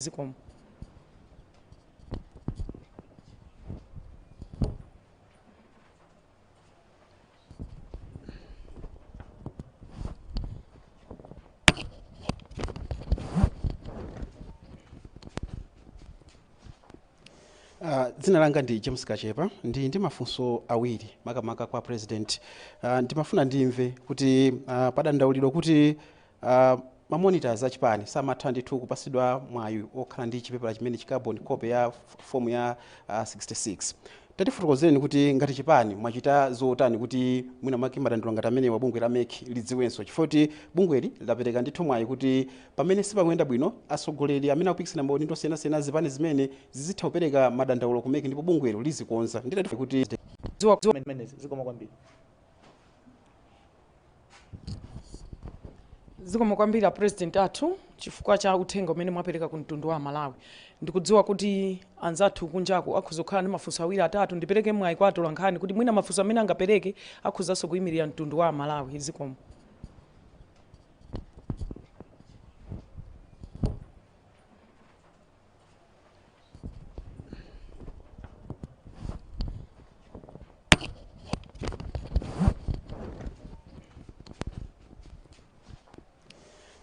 zikomo Uh, dzina langa ndi james kachepa ndili ndi mafunso awiri makamaka kwa president uh, ndimafuna ndimve kuti uh, padandaulidwa kuti Ma monitors achipani samatha ndithu kupasidwa mwayi okhala ndi chipepala chimenechi, carbon copy ya fomu ya 66. Tatifotokozereni kuti ngati chipani mwachita zotani kuti mwina mwake madandaulo ngati amenewa bungwe la mec lidziwenso chifukwa choti bungweli lidapereka ndithu mwayi kuti pamene sipamayenda bwino atsogoleri amene akupikisana maudindo osiyanasiyana azipani zimenezi zizitha kupereka madandaulo ku mec ndipo bungwelo lizikonza. Ndiye tatifunsa kuti. Zikomo kwambiri. zikomo kwambiri a president athu chifukwa cha uthenga umene mwapereka ku mtundu wa amalawi ndikudziwa kuti anzathu kunjaku akhoza kukhala ndi mafunso awiri atatu ndipereke mwayi kwa atolankhani kuti mwina mafunso amene angapereke akhozanso kuyimirira mtundu wa amalawi zikomo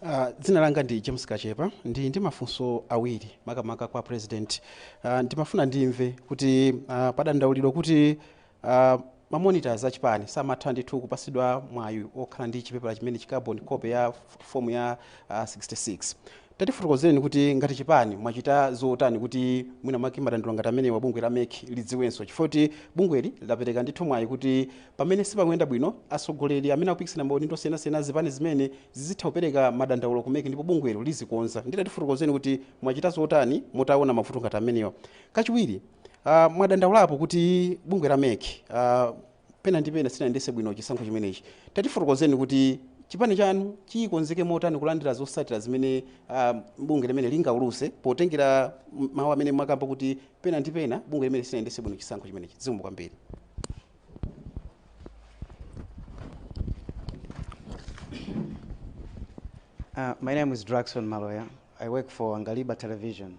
Uh, dzina langa ndi james kachepa ndili ndi mafunso awiri makamaka kwa president uh, ndimafuna ndimve kuti uh, padandaulidwa kuti Aaa ma monitors achipani samatha ndithu kupasidwa mwayi okhala ndi chipepala chimenechi carbon copy ya form ya 66. Tatifotokozeleni kuti ngati chipani mwachita zotani kuti mwina mwake madandaulo ngati amenewa bungwe la mec lidziwenso chifukwa choti bungweli lidapeleka ndithu mwayi kuti pamene sipakuenda bwino atsogoleri amene akupikisana maudindo osiyanasiyana azipani zimenezi zizitha kupeleka madandaulo ku mec ndipo bungwelo lizikonza. Nde tatifotokozeleni kuti mwachita zotani mutaona mavuto ngati amenewa kachiwiri. Uh, mwadandaulapo kuti bungwe la mec uh, pena ndi pena silinayendese bwino chisankho chimenechi tatifotokozeni kuti chipani chanu chili chokonzeka motani kulandira zosatira zimene uh, bungwe limeneli lingauluse potengera m- mawu amene mwakamba kuti pena ndi pena bungwe limeneli silinayendese bwino chisankho chimenechi zikomo kwambiri Uh, my name is Draxon Maloya. I work for Angaliba Television.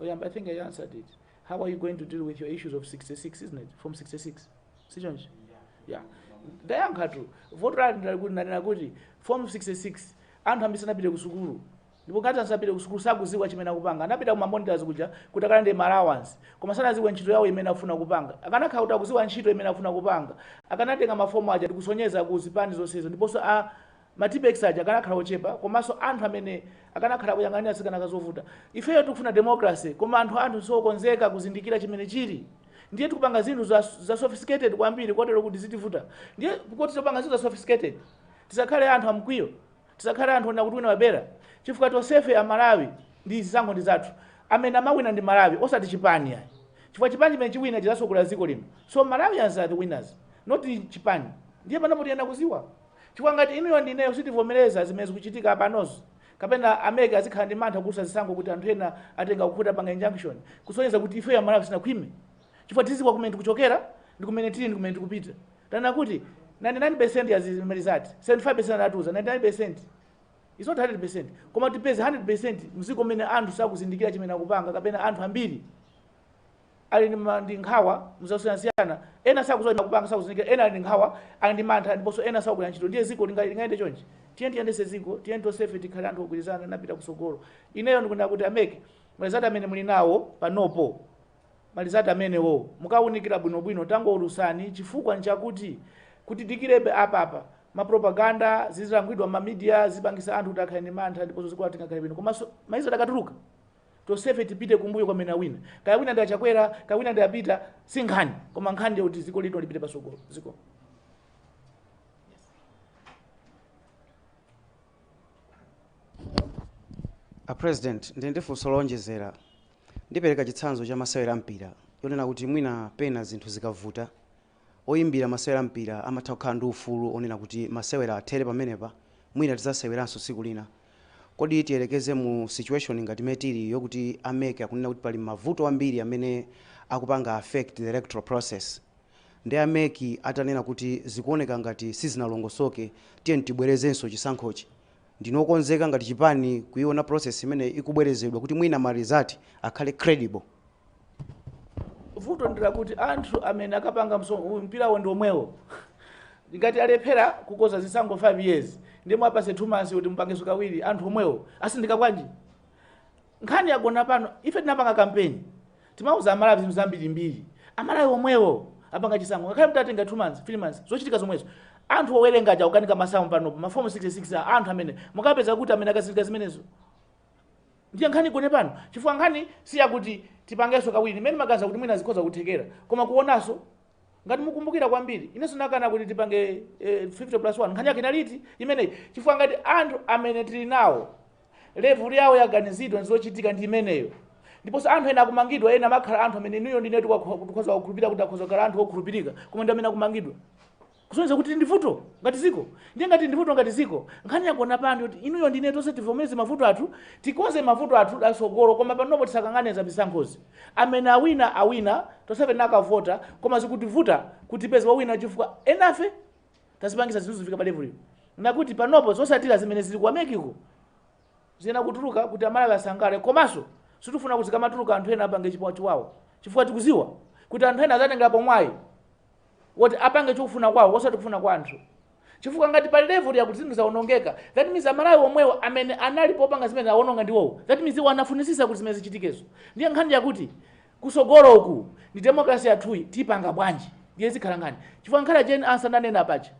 oyamba i think i answered it how are you going to deal with your issues of 66 isn't it form 66 sichonchi yeah ndayankhatu vuto lake ndi lakuti ndanena kuti form 66 anthu ambiri sanapite ku sukulu ndipo ngati asapite ku sukulu sakuziwa chimene akupanga anapita ku mamonitors kuja kuti akalande ma allowance koma sanaziwe ntchito yawo imene akufuna kupanga akanakhala kuti akuziwa ntchito imene akufuna kupanga akanatenga mafomu aja ndikusonyeza ku zipani zonsezo ndiponso a Ma tippex aja akanakhala ochepa komaso anthu amene akanakhala akuyang'anira zikanakhala zovuta. Ifeyo tikufuna democracy koma anthu anthu siokonzeka kuzindikira chimene chili ndiye tikupanga zinthu za za sophisticated kwambiri kotero kuti zitivuta ndiye poti topanga zinthu za sophisticated tisakhale anthu amkwiyo tisakhale anthu onena kuti wina wabera chifukwa tonsefe amalawi ndi zisankho ndi zathu amene amawina ndi amalawi osati chipani ayi chifukwa chipani chimene chiwina chizasogolera ziko lino so malawians are the winners not chipani ndiye panopo tiyenera kuziwa Chifukwa ngati inuyo ndi ineyo sitivomereza zimene zikuchitika panozi, kapena a mec azikhala ndi mantha kuulutsa zisankho kuti anthu ena atenga ku khoti apanga injunction, kusonyeza kuti ifeyo Amalawi sitinakhwime. Chifukwa tizidziwa kumene tikuchokera ndi kumene tili ndi kumene tikupita. Tanena kuti 99 percent ya marizati, 75 percent anatiuza, 99 percent is not 100 percent. Koma tipeze 100 percent mziko mmene anthu sakuzindikira chimene akupanga kapena anthu ambiri. ali ndi ma- ndi nkhawa muzosiyanasiyana ena sakuziwa zakupanga sakuzindikira ena ali ndi nkhawa ali ndi mantha ndiponso ena sakugwira ntchito ndiye ziko linga- lingayende chonchi tiye tiyendese ziko tiye tonsefe tikhale anthu ogwirizana napita kusogolo ineyo ndikunena kuti a mec marizati amene muli nawo panopo marizati amenewo mukawunikira bwinobwino tangoulusani chifukwa nchakuti kudikirabe apapa mapropaganda zizilankhulidwa mamidia zipangisa anthu kuti akhale ndi mantha ndiponso dziko silingakhale bwino komanso marizati adakatuluka Tonsefe tipite kumbuyo kwa amene wawina. Kaya wawina ndi a Chakwera, kaya wawina ndi a Peter, si nkhani. Koma nkhani ndi yakuti ziko lino lipite pasogolo. Zikomo. A President, ndili ndi funso lowonjezera. Ndipereka chitsanzo cha masewera a mpira. Yonena kuti mwina pena zinthu zikavuta, Oyimbira masewera a mpira amatha kukhala ndi ufulu wonena kuti masewera athere pamenepa, mwina tidzaseweranso tsiku lina. Kodi tiyerekeze mu situation ngati imene tili yokuti a mec akunena kuti pali mavuto ambiri amene akupanga affect the electoral process. Nde a mec atanena kuti zikuoneka ngati sizinalongosoke tiyeni tibwerezenso chisankhochi, ndinu okonzeka ngati chipani kuiona process imeneyi ikubwerezedwa kuti mwina ma result akhale credible? vuto ndi lakuti anthu amene akapanga mso- mpirawo ndi omwewo ngati alephera kukonza zisankho 5 years ndiye muwapase 2 months kuti mupangeso kawiri anthu omwewo asinthika bwanji nkhani yagona pano ife tinapanga kampeni timauza amalawi zinthu zambirimbiri amalawi omwewo apanga chisankho ngakhale mtatenga 2 months 3 months zochitika zomwezo anthu owerenga aja kukanika masamu panopo mafomu 66 a anthu amene mukapeza kuti amene akanazindikira zimenezo Ndiye nkhani yagona pano chifukwa nkhani siyakuti tipangenso kawiri ine ndimaganiza kuti mwina zikhoza kuthekera koma kuonanso ngati mukumbukira kwambiri inenso ndinakana kuti tipange eh, 50 plus 1 nkhani yake inali imeneyi chifukwa ngati anthu amene tili nawo level yawo ya kaganizidwe ndi zochitika ndi imeneyo ndiponso anthu ena akumangidwa ena amakhala anthu amene inuyo ndine tikhoza kukhulupirira kuti akhoza kukhala anthu okhulupirika koma ndi amene akumangidwa kusonyeza kuti tili ndi vuto ngati dziko. Ndiye ngati tili ndi vuto ngati dziko, nkhani yagona pa anthu yoti inuyo ndi ine tonse tivomereze mavuto athu, tikonze mavuto athu a mtsogolo koma panopo tisakangane za zisankhozi. Amene awina awina, tonsefe tinakavota koma zikutivuta kuti tipeze wowina chifukwa enafe tazipangitsa zinthu zifike pa level ino nakuti panopo zotsatira zimene zili ku America uko ziyenera kutuluka kuti Amalawi asangalale komanso sitikufuna kuti zikamatuluka anthu ena apange chiwawa chifukwa tikudziwa kuti anthu ena adzatengerapo mwayi. woti apange chofuna kwawo osati kufuna kwa anthu chifukwa ngati pa level yakuti zinthu zaonongeka that means amalawi omwewo amene anali popanga zimene awononga ndiwowo that means iwo anafunisisa kuti zimene zichitikezo ndiye nkhani yakuti kusogolo uku ndi democracy yathuyi tipanga bwanji ndiye zikhala nkhani chifukwa nkhani ya Jane Ansah ndanena paja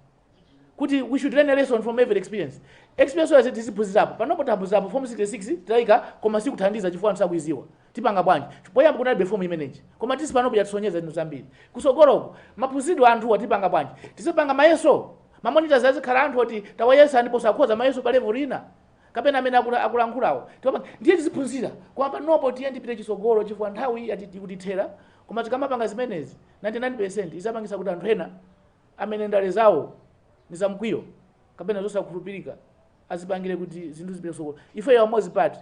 kuti we should learn a lesson from every experience experience yose tiziphunzirapo panopo taphunzirapo form 66 taika koma sikuthandiza chifukwa anthu sakuiziwa tipanga bwanji poyamba kunalibe form imeneyi koma tisi panopo yatisonyeza zinthu zambiri kusogoloko maphunzitsidwe anthuwa tipanga bwanji tizipanga mayeso mamonitors azikhala anthu oti tawayesa ndipo sakhoza mayeso pa level ina kapena amene akula- akulankhulawo Tiwapa- ndiye tiziphunzira koma panopo tiyeni tipite chisogolo chifukwa nthawi yati- ikutithera koma tikamapanga zimenezi zizapangisa kuti anthu ena Amene ndale zawo ndi za mkwiyo kapena zosakhulupilika azipangile kut zinthu zipite kusogolo ifeyo a Umodzi Party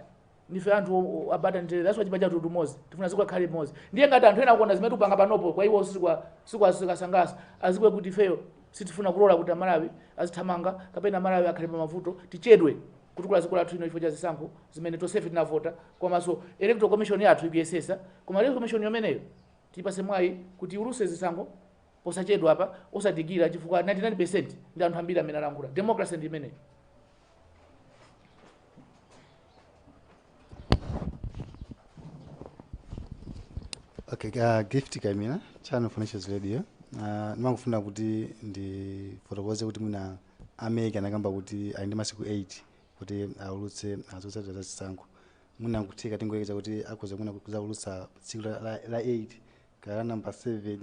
ndife anthu abata ndi mtendere that's why chipani chathu cha Umodzi tifuna ziko likhale limoz ndiye ngat anthu ena akuona zimene tikupanga panopo kwa iwo sizikuwasangalasa aziwe kut ifeyo sitifuna kulora kut amalawi azithamanga kapena amalawi akhale pamavuto tichedwe kutukula ziko lathu lino chifukwa cha zisankho zimene tonsefe tinavota komaso electoral commission yathu ikuyesesa koma electoral commission yomeneyo tiyipase mwayi kut iwuluse zisankho posachedwapa osadikira chifukwa 99% ndi anthu ambiri amene alankhula democracy ndi imeneyo Okay, uh, gift Kaimira Channel for All Nations Radio. Uh, ndimafuna kuti ndifotokoze kuti mwina a MEC anakamba kuti ali ndi masiku 8 kuti aulutse zotsatira za chisankho. Mwina nkutheka tingoyekeza kuti akhoza mwina kuzaulutsa tsiku la, la, la 8 kaya namba 7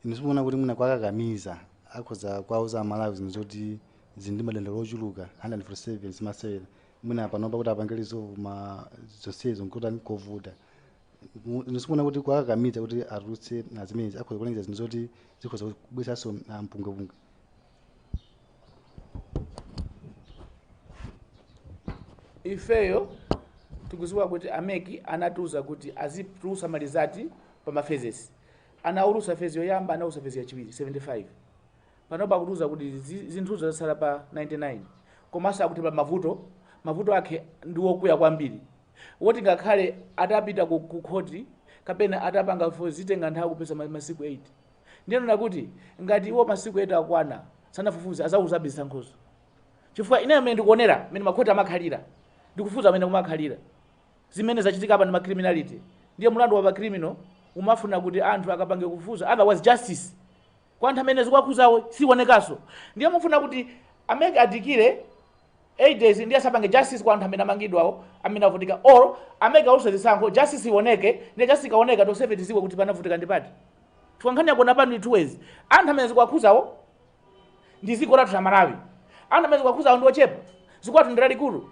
inu simuona kuti mwina kwakakamiza akhoza kwauza amalawi zinthu zoti zili ndi madandaulo ochuluka 147 zimatsalira mwina panopa kuti apange resolve ma zonsezo nkutani kovuta Mu- inu simuona kuti kwakakamiza kuti atulutse mazimenezi akhoza kulengeza zinthu zoti zikhoza kubweretsanso mpungwepungwe ifeyo tikuziwa kuti a MEC anatiuza kuti azitulusa ma result pa ma phases anaulusa phase yoyamba anaulusa phase yachiwiri 75 panopa akutiuza kuti zi- zinthuzo zasala pa 99 komanso akuti pa mavuto mavuto akhe ndi wokuya kwambiri woti ngakhale atapita ku, ku khoti kapena atapanga fo zitenga nthawi kuposa ma- masiku 8 Ndiye nnena kuti, Ngati iwo masiku 8 akwana sanafufuze azawulutsabe zisankhozo. Chifukwa ineyo mene ndikuonera mene makhoti amakhalira ndi kufufuza mene kumakhalira zimene zachitika apa ndi ma criminality ndiye mulandu wapa criminal umafuna kuti anthu akapange kufufuza otherwise justice kwa anthu amene zikuwakhuzawo siwonekanso ndiye mufuna kuti a MEC adikire 8 days ndiye asapange justice kwa anthu amene amangidwawo amene avutika or a MEC awuluse zisankho justice iwoneke ndiye justice ikaoneka tonsefe tiziwe kuti panavutika ndi pati Chifukwa nkhani yagona pano ndithu wez anthu amene zikuwakhuzawo ndi ziko lathu la malawi anthu amene zikuwakhuzawo ndi ochepa ziko lathu ndi lalikulu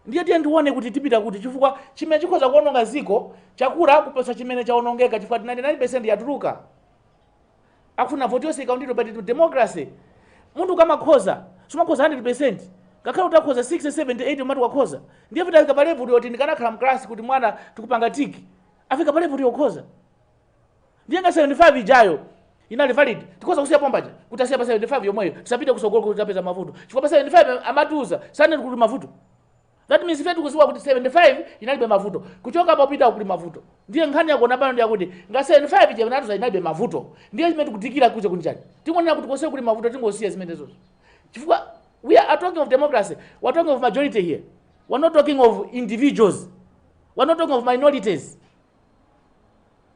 ndiye tiyeni tione kuti tipita kuti chifukwa chimene chikhoza kuononga ziko chakula kuposa chimene chaonongeka chifukwa 99% yatuluka akufuna voti yonse ikaundidwe but in democracy munthu ukamakhoza sumakhoza 100% ngakhale utakhoza 60 70 80 umati wakhoza ndiye kuti afika pa level yoti ndikanakhala mklasi kuti mwana tikupanga tick afika pa level yokhoza Ndiye nga 75 ijayo inali valid, tikhoza kusiya pompaja kuti asiya pa 75 yomweyo, tisapite kusogolo kuti tapeza mavuto, chifukwa pa 75 amatiuza sanati kuli mavuto. That means ife tikuziwa kuti 75 inalibe mavuto, kuchoka popita kuli mavuto. Ndiye nkhani yagona pano ndiyakuti nga 75 ija inatiuza inalibe mavuto, ndiye zimene tikudikira kuze kuli chani? Tingonena kuti konse kuli mavuto tingosiya zimenezozo, chifukwa we are talking of democracy, we are talking of majority here, we are not talking of individuals, we are not talking of minorities.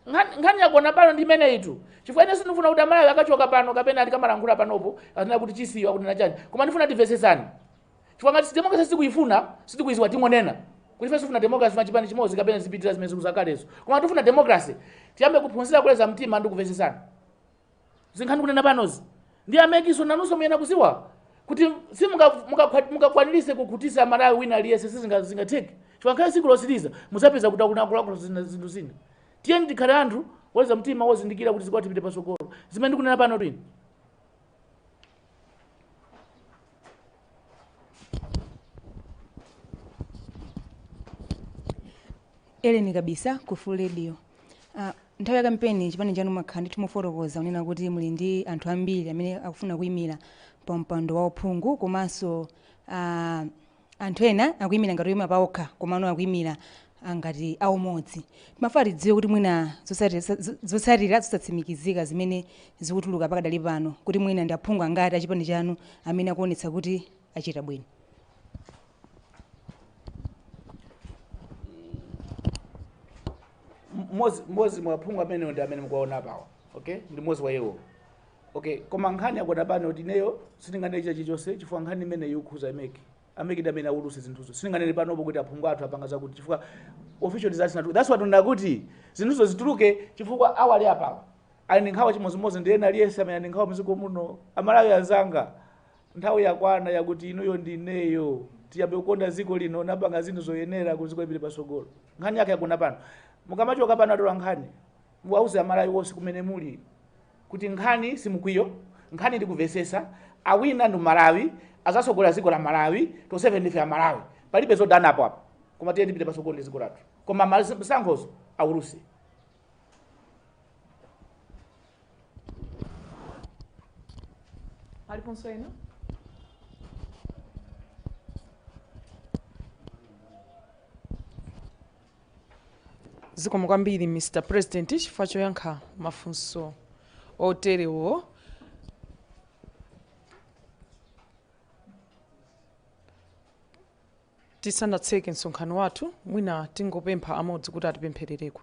Nkhani yagona pano ndi imeneyitu. Chifukwa ine sindikufuna kuti amalawi akachoka pano kapena tikamalankhula panopo azinena kuti chisiyo akunena chani. Koma ndifuna timvetsetsane. Chifukwa ngati democracy sitikuifuna, sitikuiziwa tingonena. Kuti ife sitifuna democracy ma chipani chimodzi kapena zipitira zimene zikuzakalezo. Koma tifuna democracy. Tiyambe kuphunzira kuleza mtima ndi kumvetsetsana. zimene ndikunena panozi ndi a MEC-nso nanuso muyena kuziwa kuti simungakwanirise kukhutisa malawi wina aliyense sizingatheke chifukwa ngakhale siku lotsiriza muzapeza kuti akunakulakula zinthu zina tiyeni tikhale anthu woleza mtima wozindikira kuti ziko lathu lipite pasogolo zimene ndikunena pano twini Ellen Kabisa ku Fuko radio uh, nthawi ya kampeni chipani chanu mwakhala ndithu mukufotokoza unena kuti muli ndi anthu ambiri amene akufuna kuyimira pa mpando wa uphungu komanso uh, anthu ena akuyimira ngati oyima paokha komano akuyimira ngati aumodzi. Timafuna tidziwe kuti mwina zotsatira zosatsimikizika zimene zikutuluka pakadali pano kuti mwina ndi aphungu angati achipani chanu amene akuwonetsa kuti achita bwino. Mmodzi mwa aphungu amenewo ndi amene mukuwawona apawa. Ndi mmodzi wa iwo. Okay, koma nkhani yagona pano kuti ineyo sindinganene china chilichonse chifukwa nkhani imeneyi ikukhuza MEC a MEC ndi amene auluse zinthuzo sindinganene panopo kuti aphungu athu apanga zakuti chifukwa official results natu that's what ndakuti zinthuzo zituluke chifukwa awali apawa ali ndi nkhawa chimodzimodzi ndi ena aliyense amene ali ndi nkhawa muziko muno amalawi anzanga nthawi yakwana yakuti inuyo ndi ineyo tiyambe kukonda ziko lino ndikupanga zinthu zoyenera kuti ziko lipite patsogolo nkhani yake yagona pano mukamachoka pano atola nkhani muwauze amalawi onse kumene muli kuti nkhani si mkwiyo nkhani ndikuvesesa awina ndi amalawi azasogolera ziko la malawi tonsefe ndife amalawi palibe zodanapo apa koma tiyeni tipite pasogolo ndi ziko lathu koma masankhozo auluse paliponso ena Zikomo kwambiri Mr President chifukwa choyankha mafunso oterewo. Tisanatseke msonkhano wathu, mwina tingopempha amodzi kuti atipempherereko.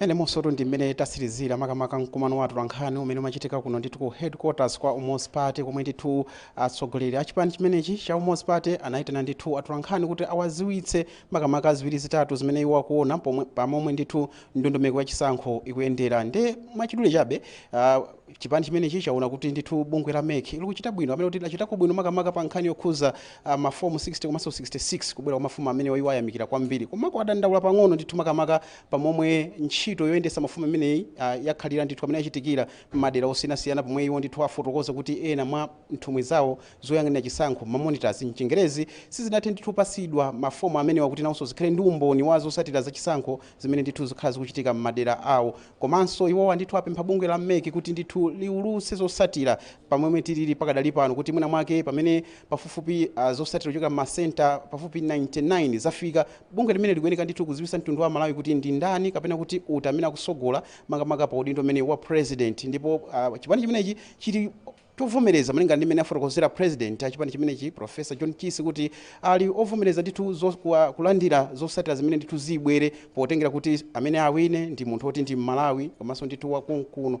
inde umo nsotu ndi mmene tasirizira makamaka mkumano wa atolankhani umene umachitika kuno ndithu ku headquarters kwa umodzi party komwe ndithu atsogoleri a chipani chimenechi cha umodzi party anayitana ndithu atolankhani kuti awaziwitse makamaka ziwiri zitatu zimene iwo akuona pomwe- pamomwe ndithu ndondomeko ya chisankho ikuyendera nde mwachidule chabe ah, Chipani chimenechi chaona kuti ndithu bungwe la mec likuchita bwino kapena kuti lachitako bwino makamaka pa nkhani yokhuza uh, mafomu 60 komanso 66 kubwera kwa mafomu amenewa iwo ayamikira kwambiri komako adandaula pang'ono ndithu makamaka pa momwe ntchito yoyendetsa mafomu imeneyi uh, yakhalira ndithu mmene yachitikira m'madera osiyanasiyana pomwe iwo ndithu afotokoza kuti ena mwa nthumwi zawo zoyang'anira chisankho mamonitors mchingerezi sizinathe ndithu kupatsidwa mafomu amenewa kuti nawonso zikhale ndi umboni wa zosatira za chisankho zimene ndithu zikhala zikuchitika m'madera awo. Komanso iwowa ndithu apempha bungwe la mec kuti ndithu liulutse zosatira pomwe tilili pakadali pano kuti mwina mwake pamene pafupifupi ah, zosatira kuchokera m'ma center pafupi 99 zafika bungwe limeneli likuyeneka ndithu kuziwisa mtundu wa Malawi kuti ndi ndani kapena kuti ndi uti amene akusogola makamaka pa udindo umenewu wa president ndipo ah, chipani chimenechi chili chovomereza malinga ndi mmene afotokozera President a chipani chimenechi Prof John Chisi kuti ali ovomereza ndithu zo kwa kulandira zosatira zimene ndithu zibwere potengera kuti amene awine ndi munthu oti ndi Mmalawi komanso ndithu wa konkuno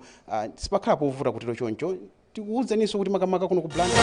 sipakhala povuta kutero choncho tikuwuzeninso kuti makamaka kuno ku Blantyre